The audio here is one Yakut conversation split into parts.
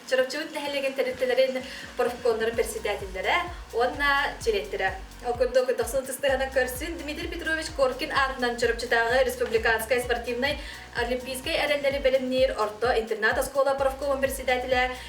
Чоропчуун нэһилиэгин тэрилтэлэрин профкомнарын председателлэрэ уонна директора. Ол курдук дохсун тыстыһынан көрсүн Дмитрий Петрович Коркин аатынан Чоропчутааҕы республиканскай спортивнай олимпийскай эрэллэри бэлэмниир орто интернат оскуола профкомун председателэ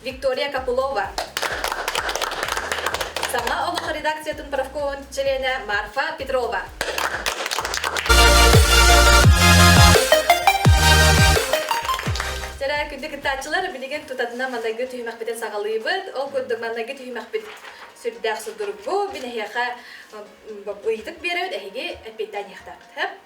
Виктория Копылова, саҥа олох редакциятын профкомун чилиэнэ Марфа Петрова. Тара күндү кыттааччылар билигин тутатына манайгы түһүмэхпитин саҕалыыбыт. Ол курдук манайгы түһүмэхпит сүрдээх судургу. Мин эһиэхэ ыйытык берөбүт эһиги эппиэттэниэхтээхпит.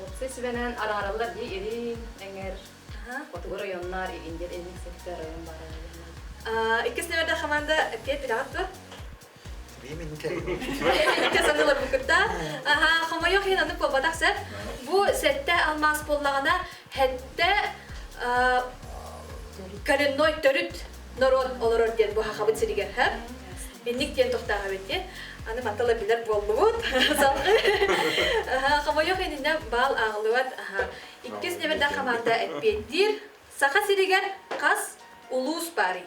Уопсай сүбэнэн араараллар дии ирин эҥэр отугар ойоннаар игин диэн инник сэтиктэр ойон баара иккис нөмөрдө хаманда кет үлэҕэр тур Икки санылар бу кытта. Аха, хомойох ин аны куобатах сеп. Бу сетте алмаас боллагана Хэттэ коренной төрүт норуот олорор диэн бу хахабыт сиригэр һэ инник диэн тохтаабыт диэн аны матала билэр буоллубут хомойох иннинэ баал ааҕылыбат иккис неберда хамаанда эппиэттиир саха сиригэр хас улуус баарый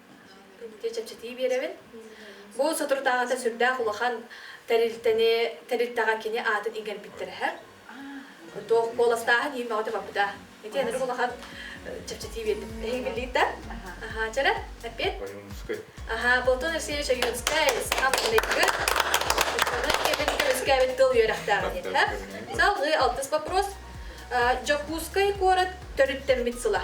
чэпчэтии биэрэбин. Бу соторутааҕыта сүрдээх улахан тэрилтэни, тэрилтэҕэ кини аатын иҥэрбиттэрэ һэ. Туох куоластааһын иимэҕитэ барбыта. Ити энэри улахан чэпчэтии биэрдим. Эһиги биллиит да? Аhaa, чэрэ, эппиэт. Аhaa, Платон Алексеевич Ойуунскай, саамныгы, үөскээбит тыл үөрэхтээҕин диэтэ. Салгыы алтыс вопрос. Дьокуускай куорат төрүттэммит сыла.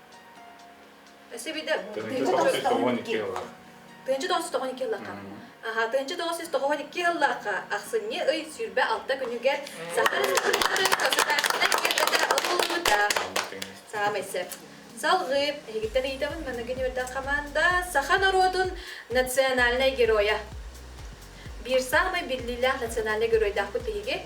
Сибиде тыһынчы тоҕус жүз тоҕон икки ыллаах. Тыһынчы тоҕус жүз тоҕон икки ыллаахха. Аха, тыһынчы тоҕус жүз тоҕон икки ыллаахха ахсынньы ый сүүрбэ алта күнүгэр Саха Республикатын Гербэтэ ылыллыда. Саамай сеп. Салгыы, эһигиттэн ыйытабын манныгы ньүөрден хамаанда саха норуотун национальнай геройа. Биир саамай биллиилээх национальнай геройдаахпыт биһиги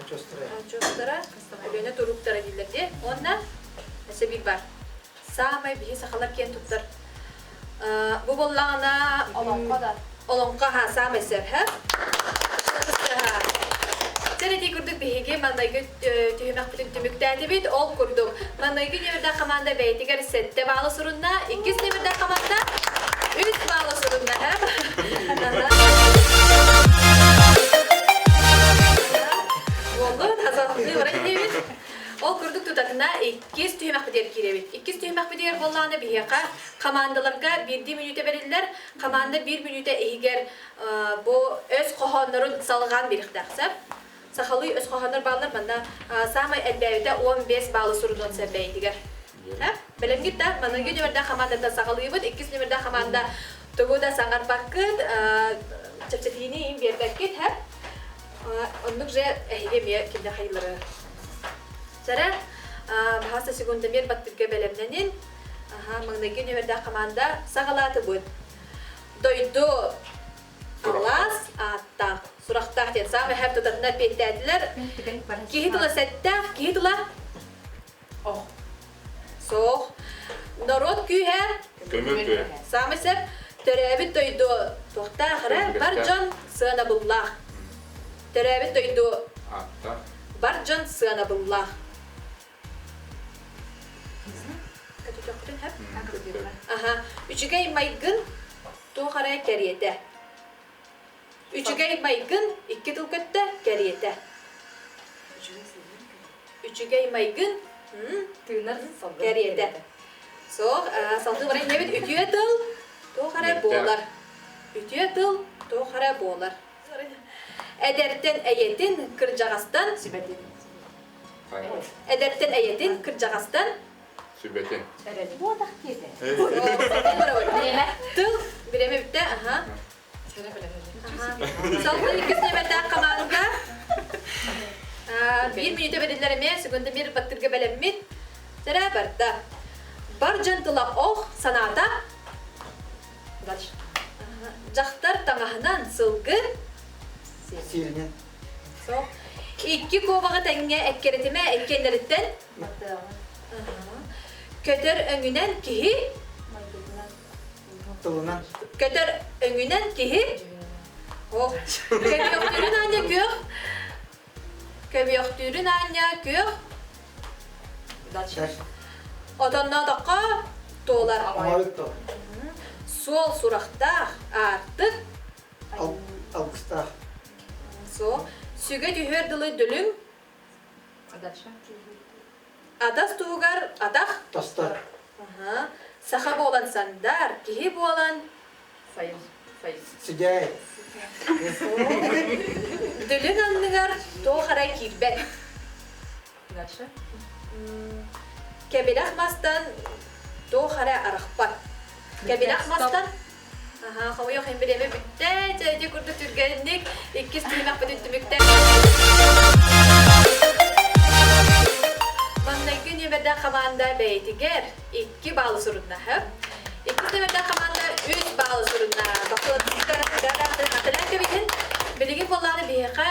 Очуостара, Өлүөнэ турууктара дииллэр дии. Уонна сэбиир бар. Саамай биһи сахалар киэн туттар бу буоллаҕына олоҥхо да олоҥхо аһа саамай сөбө Сэрэтии курдук биһиги маннайгы түһүмэхпитин түмүктээтибит. Ол курдук Маҥнайгы нөмүрдээх команда бэйэтигэр сэттэ баалы сурунна, иккис нөмүрдээх команда үс баалы сурунна. Болду тазалыы бара киһибит. Ол курдук тутатына иккис түһүмэхпитигэр киирэбит. Иккис түһүмэхпитигэр боллааны биһиэхэ командаларга биирдии мүнүүтэ бэриллэр, команда биир мүнүүтэ иһигэр бу өс хоһооннорун салҕаан биэриэхтээх сөп. Сахалыы өс хоһооннор бааллар манна саамай элбээбитэ уон биэс баалы сурунуон сөп бэйэтигэр. Бэлэмҥит да, маныгы нөмэрдээх хамаандата саҕалыыбыт, иккис нөмэрдээх хамаанда тугу да саҥарбаккыт, чэпчэтиини биэрбэккит, оннук же эһиги эмиэ кинилэр хайыылары. Сэрэ, баһааса секундамир баттыгга бэлэмнэнин, маныгы нөмэрдээх хамаанда саҕалаатыбыт. Дойду Кылаас ааттаах, сурахтаах диэн саам эһэр тутатына эппиэттээтилэр. Киһи тыла сэттээх, киһи тыла ох. Суох. Норуот күүһэ көмүл күө. Саамай сэр төрөөбүт дойду туохтаах эрэ бар дьон сыанабыллаах. Төрөөбүт дойду Ааттаах. бар дьон сыанабыллаах. Аха, үчүгэй майгын туох эрэ кэриэтэ. Үчүгэй майгын икки тыл көттө кэриэтэ. Үчүгэй майгын тыынар кэриэтэ. Суох, салгыы баран инэбит үтүө тыл туох эрэ буолар. Үтүө тыл туох эрэ буолар. Эдэртэн эйэтин, кырдьаҕастан сүбэтин. Эдэртэн эйэтин, кырдьаҕастан Сүбэтин. Тыл бириэмэ бүттэ, аха. Салгыы иккис тиэмэлээх хамаанда биир мүнүүтэ бэриллэр эмиэ секунда биир баттырга бэлэммит тэрэ барда. Бар дьон тыла ох санаата дьахтар таҥаһынан сылгы сиэринэн Икки куобаҕы тэҥҥэ эккирэтимэ эккиэннэриттэн көтөр өҥүнэн киһи тылынан көтөр өҥүнэн киһи ох көбүөхтүүрүн аанньа күөх көбүөхтүүрүн аанньа күөх отонноотоххо туолар суол сурахтаах аартык Августта. Суох. Сүгэ түһүөр дылы дүлүҥ. Адавша. Атах туһугар атах. Тастар. Аха. Саха буолан сандар, киһи буолан файл. Файл. Сидэй. Дүлүн анныгар туох эрэ киирбэт. Даша кэбинэх мастан туох эрэ арахпат. Кэбинэх мастан Аха, хомойуох хин билеме бүттэ, дьэди курдук түргэнник, иккис түһүмэхпитин түмүктэ. Маннайгы нүөмэрдээх хамаанда бэйэтигэр 2 баалы суруннаһы. Иккис төгүлден команда 3 баалы сурунна. Бакылатыска гараатын аталан кебитин. Билиги боллары биһиэхэ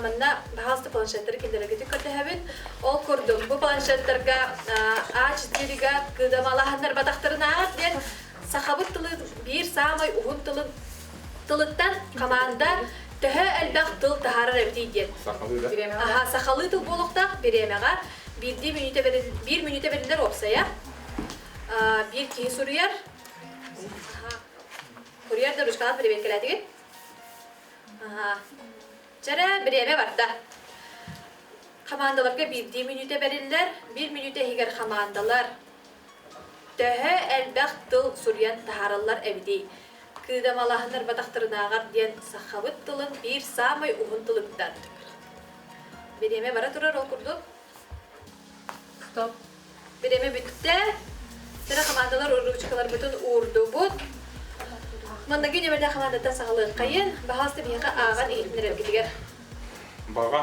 манна баһалты планшеттары киндергитин көрдөһөбүн. Ол курдук бу планшеттарга ач дирига кыдамалаһаннар батахтарынаах диэн сахабыт тылын биир самый уһун тылын тылыттан команда төһө элбэх тыл таһарар эбитий диэн. Сахалыы да? Аха, сахалыы тыл буолуктаах биремега Биирдии мүнүүтэ бэрил, биир мүнүүтэ бэриллэр уопсайа. Биир киһи суруйар. Курьер да ручкаҕын переверкэлээтигит. Аха. Чэрэ бириэмэ барда. Хамаандаларга биирдии мүнүүтэ бэриллэр, биир мүнүүтэ иһигэр хамаандалар Төһө элбэх тыл суруйан таһаараллар эбитий? Кыыдамалаһынырбатахтарынааҕар диэн сахабыт тылын биир саамай уһун тылыттан. Бириэмэ бара турар ол курдук. Стоп. Бириэмэ бүттэ. Сыра хамаандалар уруучкаларбытын уурдубут. Манныгы нөмірдэ хамаандаттан саҕалыаххайын. Баһаалыста биһиэхэ ааҕан иһитиннэрэргитигэр. Баҕа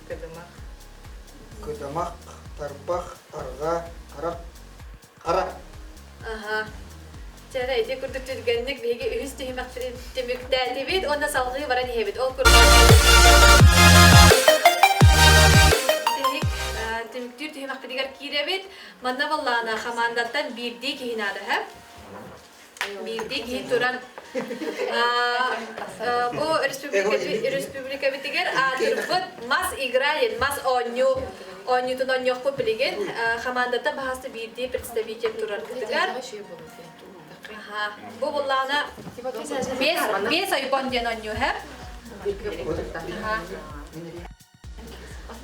Кыдымах. Кыдымах, тарбах, арҕаа, харах, хара. Аһа. Чара ити курдук түргэнник биһиги үһүс түһүмэхтэрин түмүктээтибит уонна салҕыы баран иһэбит. Ол курдук түмүктүүр түһүмэхпитигэр киирэбит. Манна баллаана хамаандаттан биирдии киһи наада, Биирдии киһи туран бу республикабытыгар аатырбыт мас игралин, мас оонньуу оонньуутун оонньуохпут билигин хамаандата баһаста биирдии представитель турарбытыгар бу буллаана бес айбон диэн оонньуу хэп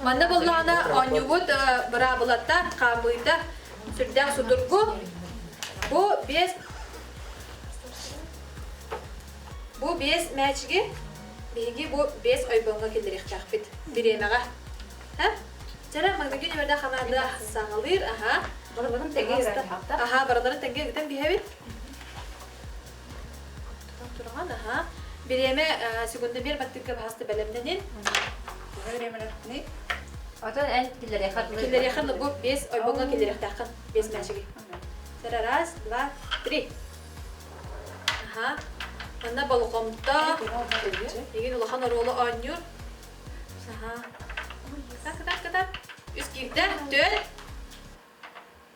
Манна буллаҕына оонньуубут быраабылата, хаамыыта сүрдээх судургу. Бу биэс бу биэс мээчиги биһиги бу биэс ойбоҥҥо киллэриэхтээхпит бириэмэҕэ. Чара манныгы нөмөрдө хамаанда саҕалыыр, аха. Барыларын тэнгэ ыста. Аха, барыларын тэнгэ ыытан биһэбит. турган аха бириэмэ сегундомер баттыкка баһасты бэлэмненин Отон эн килерехан килерехан бу бес ойбоҥо килерехтахын бес мәчиги. Тара раз, два, три. Аха. Манна болукомто эгин улахан оруолу оонньур. Аха. Так так так. Үс киирдэ, төл.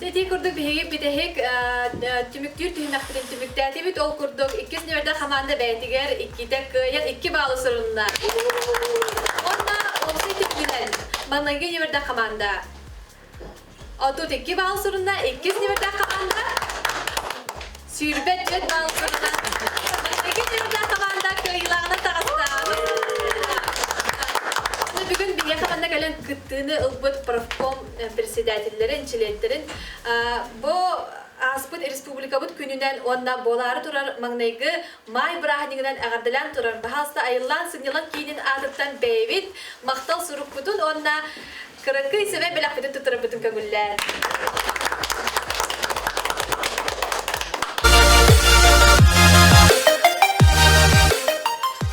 Ити курдук биһиги бүтэһик түмүктүүр түһүмэхпитин түмүктээтибит. Ол курдук иккис нөвердэр хамаанда бэйэтигэр иккитэ кыайан икки баллы сурунна. Уонна Олсый түмүгүнэн маныгы нөвердэр хамаанда отут икки балл сурунна. Иккис нөвердэр хамаанда Сүүрбэччэ саал кырынан Ити дьылга хамаанда кыайыылааҕынан таҕыстаабыт. Ону бүгүн биһиэхэ манна кэлэн кыттыыны ылбыт профком председателлэрин, чилиэттэрин бу ааспыт республикабыт күнүнэн уонна буолаары турар маҥнайгы маай бырааһынньыгынан эҕэрдэлээн турар баһаалыста айыллаан сынньалаҥ киинин аатыттан бэйэбит махтал сурукпутун уонна Кыракый сэмэй бэлэхпитин туттарарбытын көҥүллээн.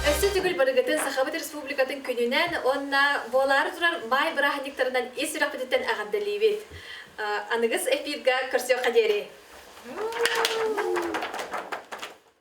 Өссө түгүл барыгытын Сахабыт Республикатын күнүнэн уонна буолаары турар баай бырааһынньыктарынан ис сүрэхпититтэн эҕэрдэлиибит. Аныгыс эфирга көрсүөххэ диэри.